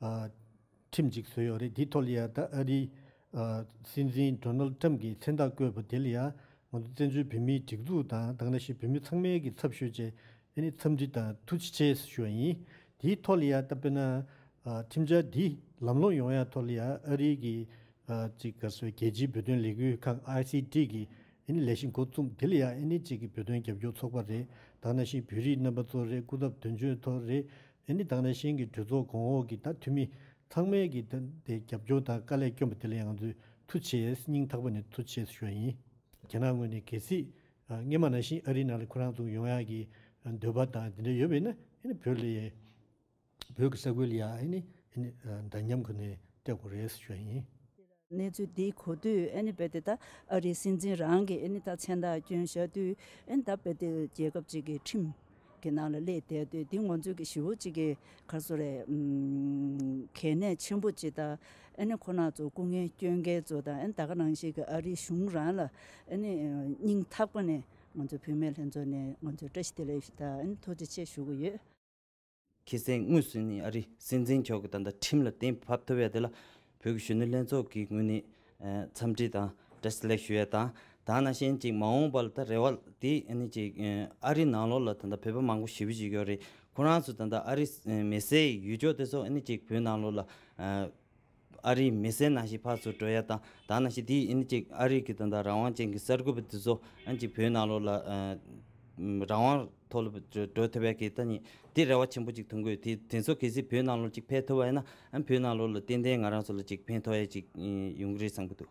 ཁྲིམས་གཅིག་བཟོས་ཡོད་རེད་དེའི་ཐོག་ལ་ཡང་ད་ཨ་རིའི་སྲིད་འཛིན་དྲོ་ནལ་ཏྲམ་གྱིས་མཚན་རྟགས་བཀོད་པ་དེ་ལ་ཡང་ང་ཚོ་བཙན་བྱོལ་བོད་མིའི་སྒྲིག་འཛུགས་དང་དང་ལ་ཞིག་བོད་མི་ཚང་མའི་གི་ཚབ་ཞུས་རྗེས་འཚམས་འདྲི་དང་ཐུགས་རྗེ་ཆེ་ཞུ་བ་ཡིན། དེའི་ཐོག་ལ་ཡང་ད་དཔེར་ན་ཁྲིམས་འཆར་འདི་ལམ་ལྷོང་ཡོང་ཡག་ཐོག་ལ་ཡང་ཨ་རིའི་གི་ཅིག་ག་སོའི་རྒྱལ་སྤྱིའི་བོད་དོན་ལས་འགུལ་ཁང ICD གི་ལས་གཞི་འགོ་བཙུགས་དེ་ལ་ཡང་ཨ་ནི་ཅིག་གི་བོད་དོན་རྒྱབ་སྐྱོར་ཚོགས་པ་རེད་དང་ལ་ཞིག་བོད་རིགས་རྣམ་པ་ཚོ་རེད་སྐུ་ཚབ་དོན་གཅོད་ཐོ་རེད་ཨེ་ནི་དང་རེ་ཞིང་གི་གྲོས་ཚོགས་གོང་འོག་གི་དང་འཐུས་མི་ཚང་མས་ཀྱི་ད་དེ་རྒྱབ་སྐྱོར་དང་དཀའ་ལས་སྐྱོན་པ་དེ་ལ་ཡང་ཚུལ་མཐུ་ཆེས་སྙིང་ཐག་པ་ནས་མཐུ་ཆེས་ཞུ་བ་ཡིན། རྒྱ་ནག་ངོས་ནས་གལ་སྲིད་ངེད་མ་ནང་བཞིན་ཨ་རིའི་ནང་ལ་ཁོ་རང་ཚུགས་ཡོང་ཡག་གི་འདོད་པ་དང་དེ་འདྲ་ཡོད་པས་ན་ཨེ་ནི་བོད་ལ་ཡ་བོད་ཀྱི་ས་ཁུལ་ལ་ཡ་ཨེ་ནི་ཨེ་ནི་འདྲ་མཉམ་ཁོ་ནས་སྤྲད་དགོས་རེད་ཞུ་བ་ཡིན། གནས་ཚུལ་འདི་གོ་དུས་ཨ་ནི་བལ་ཏེ་ད་ཨ་རིའི་སྲིད་འཛིན་རང་གིས་ཨ་ནི་ད་མཚན་རྟགས་བསྐྱོན་བཞག་དུས་ཨ་ནི་ད་བལ་ཏེ་རྒྱལ་ཁབ་ཅིག་གི་ཁྲིམས་ཀྱི་ནང་ལ་སླེབས་བསྡད་དུས་འདི་ངོ་མཚོན་གྱི་ཞི་བོ་ཅིག་གི་ཁར་སོ་རེད། གལ་གནད་ཆེན་པོ་ཅིག་ད་ཨ་ནི་ཁོ་ན་ཚོ་སྐུ་ངལ་བསྐྱོན་མཁན་ཚོ་དང་ཨ་ནི་ད་ག་ནང་ཞིག་གི་ཨ་རིའི་གཞུང་རང་ལ་ཨ་ནི་སྙིང་ཐག་པ་ནས་ང་ཚོ་བུད་མེད་ལྷན་ཚོགས་ནས་ང་ཚོས་བཀྲ་ཤིས་བདེ་ལེགས་ཞུ་དང་ཨ་ནི་ཐུགས་རྗེ་ཆེ་ཞུ་གི་ཡོད། ཁེ་སེང་དངོས་སུ་ནི་ཨ་རི་སྲིད་འཛིན་མཆོག་གི་ད་ལྟ་ཁྲིམས་ལ་གཏན་ཕབ་ཐུབ་ཡས་དེ་ལ་བོད་ཀྱི་གཞོན་ནུ་ལྷན་ཚོགས་ཀྱི་ངོས་ནས་འཚམས་འདྲི་དང་བཀྲ་སླད་ཞུ་ཡས་དང་དང་ན་གཞན་ཅིག་མ་འོངས་པར་ད་རེ་བ་དེ་ནི་ཅིག་ཨ་རི་ནང་ལོགས་ལ་ད་ད་བོད་པ་མང་པོ་ཞི་བུ་ཞིག་ཡོད་རེད་ཁོ་རང་ཚོ་ད་ད་ཨ་རི་མེ་སའི་ཡུལ་ཕྱོགས་དེ་སོགས་ནི་ཅིག་བོད་ནང་ལོགས་ལ། ཨ་རིའི་མི་སེར་ནང་བཞིན་ཕར་ཚུར་བྲོས་ཡ་དང་དང་ནང་བཞིན་དེ་ཡིན་གཅིག་ཨ་རིའི་གི་དོན་དང་རང་དབང་ཅན་གི་གསར་འགོད་པ་དེ་ཚོ་ཨ་ཅིག་བོད་ནང་ལོག་ལ་རང་དབང་ཐོག་ལ་བྲོས་ཐུབ་ཡ་གི་ད་ནི་དེ་རེ་བ་ཆེན་པོ་ཅིག་ཐོན་དགོས་དེ་དེ་ཚོ་གལ་སྲིད་བོད་ནང་ལོག་ཅིག་ཕེབས་ཐུབ་ཡ་ན་ཨ་བོད་ནང་ལོག་ལ་ཏན་ཏན་ང་རང་ཚོ་ལ་ཅིག་ཕན་ཐོག་ཡ་ཅིག་ཡོང་གི་རེད་བསམ་གི་འདུག།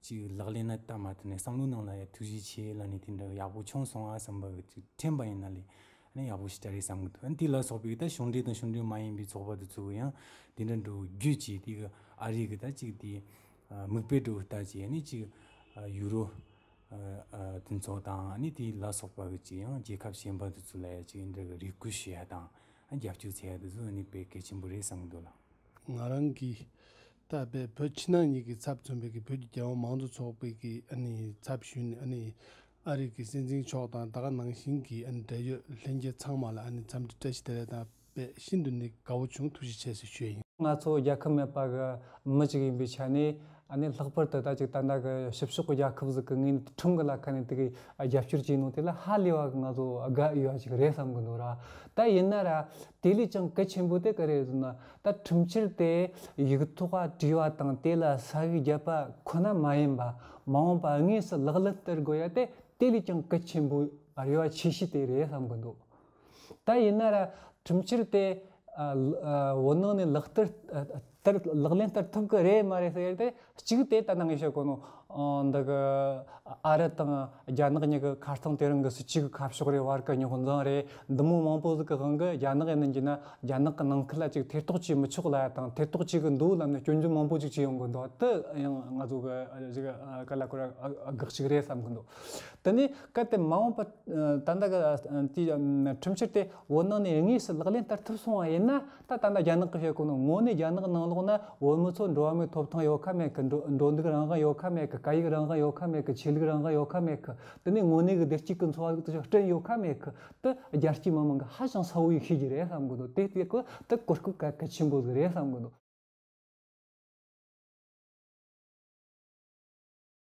ཅིག་ལག་ལེན་ན་བསྟར་མ་ཐུབ་ནས་བསམ་བློའི་ནང་ལ་ཡང་ཐུགས་རྗེ་ཆེ་ལ་ནི་དེ་འདྲ་ཡག་པོ་བྱུང་སོང་ཨ་བསམ་པ་གི་ཚུལ་ཁྲིམས་པ་ཡིན་ན་ལས་ནི་ཡག་པོ་ཞིག་བྱ་རེ་བསམ་གི་འདུག་ཨ་དེ་ལ་སོགས་པའི་ད་གཞུང་འབྲེལ་དང་གཞུང་འབྲེལ་མ་ཡིན་པའི་ཚོགས་པ་དེ་ཚོ་གི་ཡང་དེ་འདྲ་འགྲོ་རྒྱུ་ཅིག་དེ་གི་ཨ་རི་གི་ད་ཅིག་དེ་མིག་དཔེ་སྒྲོ་ལྟ་ཅིག་ནི་ཅིག་ཡུ་རོ་དེ་ཚོ་དང་ནི་དེ་ལ་སོགས་པ་གི་ཅིག་ཡང་རྒྱལ་ཁབ་གཞན་པ་དེ་ཚོ་ལ་ཡང་ཅིག་འདྲ་གི་རེ་སྐུལ་ཞུ་ཡ་དང་རྒྱབ་སྐྱོར་བྱེད་ཡ་དེ་ཚོ་ནི་དཔེ་གལ་ཆེན་པོ་རེད་བསམ་གི་འདུག་ལགས། ང་རང་གིས་ད་བལ་བོད་ཕྱི་ནང་གཉིས་ཀྱི་ཚབ་མཚོན་པའི་གིས་བོད་ཀྱི་རྒྱལ་བ་མང་གཙོ་ཚོགས་པའི་གིས་ཚབ་ཞུས་ནས་ཨ་རིག་གི་སྲིད་འཛིན་མཆོག་དང་ད་ག་ནང་བཞིན་གྱི་འབྲེལ་ཡོད་ལྷན་རྒྱས་ཚང་མ་ལ་འཚམས་འདྲི་བཀྲ་ཤིས་བདེ་ལེགས་དང་བལ་ཤིན་ཏུ་ནས་དགའ་བོ་བྱུང་ཐུགས་རྗེ་ཆེ་ཞེས་ཞུ་ཡི་ཡིན། ང་ཚོ་རྒྱལ་ཁབ་མེད་པ་གི་མི་ཅིག་ཡིན་པའི་ཆ་ནས་ལྷག་པར་དུ་ད་ཅིག་ཏན་ཏན་གྱི་ཕྱི་ཕྱོགས་གྱི་རྒྱལ་ཁབ་ཟིག་གི་ངོས་ནས་ཁྲིམས་གྱི་ལ་ཁ་ནས་དེ་གའི་རྒྱབ་སྐྱོར་བྱས་གནང་དེ་ལ་ཧ་ལས་བ་གི་ང་ཚོ་དགའ་འོས་བ་ཅིག་རེད་བསམ་གྱི་འདུག་ར་ད་ཡིན་ན་ར་དེ་ལས་ཀྱང་གལ་ཆེན་པོ་དེ་ག་རེད་ཟེར་ན་ད་ཁྲིམས་ཆད་དེ་ཡིག་ཐོག་བྲིས་པ་དང་དེ་ལ་ས་བོན་བརྒྱབ་པ་ཁོ་ན་མ་ཡིན་པར་མ་འོངས་པར་དངོས་སུ་ལག་ལེན་བསྟར་དགོས་ཡ་དེ་དེ་ལས་ཀྱང་གལ་ཆེན་པོ་རེ་བ་ཆེ་ཤོས་དེ་རེད་བསམ་གྱི་འདུག་ད་ཡིན་ན་ར་ཁྲིམས་ཆད་དེ་བོད་ནང་ནས་ལག་བསྟར་ལག་ལེན་བསྟར་ཐུབ་ཀྱི་རེད་མ་རེད་ཟེར་ཡ་དེ་གཅིག་དེ་ལྟ་ན་ངེས་ཤེས་དཀོན་ནོ། འདི་གི་ཨ་རི་དང་རྒྱ་ནག་གཉིས་ཀྱི་ཁ་སྟངས་དེ་རང་གི་སུ་གཅིག་གི་ཁ་ཕྱོགས་རེད་བར་གྱི་རྙོག་འཛིང་རེད་འདི་མོ་མང་པོ་ཟིག་གི་དབང་གིས་རྒྱ་ནག་ཡིན་ནམ་གྱིས་ན་རྒྱ་ནག་གི་ནང་ཁུལ་ལ་ཅིག་ཐེ་གཏོགས་བྱས་མི་ཆོག་ལ་དང་ཐེ་གཏོགས་བྱེད་གི་འདུག་ལབ་ན་སྐྱོན་བརྗོད་མང་པོ་ཅིག་བྱེད་ཡོང་གི་འདུག་དེ་ཡང་ང་ཚོ་གི་གཞིས་ཀ་ཀ་ལ་ཀོ་ར་དགག་ཅིག་རེད་བསམ་གི་འདུག་དེ་ནས་གལ་ཏེ་མ་འོངས་པ་ད་ལྟ་གི་དུས་ཁྲིམས་ཕྱིར་དེ་འོ་ནང་ནས་དངོས་སུ་ལག་ལེན་བསྟར་ཐུབ་སོང་བ་ཡིན་ན། ད་ལྟ་ན་རྒྱ་ནག་གི་བྱེད་སྒོ་ནི་དངོས་གནས་རྒྱ་ནག་ནང་ལོགས་ན་བོད་མི་ཚོ་འགྲོ་བ་མིའི་ཐོབ་ཐང་ཡོད་ཁ་མེད་གི་འགྲོ་འགྲོ་འདུག་རང་དབང་ཡོད་ཁ་མེད་གི་སྐད་ཡིག་རང་དབང་ཡོད་ཁ་མེད་གི་ཆོས་ལུགས་རང་དབང་ཡོད་ཁ་མེད་གི་དེ་ནི་དངོས་གནས་གི་བདེ་སྐྱིད་ཀི་འཚོ་བ་ལུགས་དེ་ཚོ་སྐྲུན་ཡོད་ཁ་མེད་གི་དེ་རྒྱལ་སྤྱིའི་མི་མང་གི་ཧ་ཅང་ཚ་བོ་ཡིག་ཤེས་ཀྱི་རེད་བསམ་གི་འདུག་དེ་དེ་གི་དེ་གོ་སྐབས་གལ་གལ་ཆེན་པོ་ཟིག་རེད་བསམ་གི་འདུག།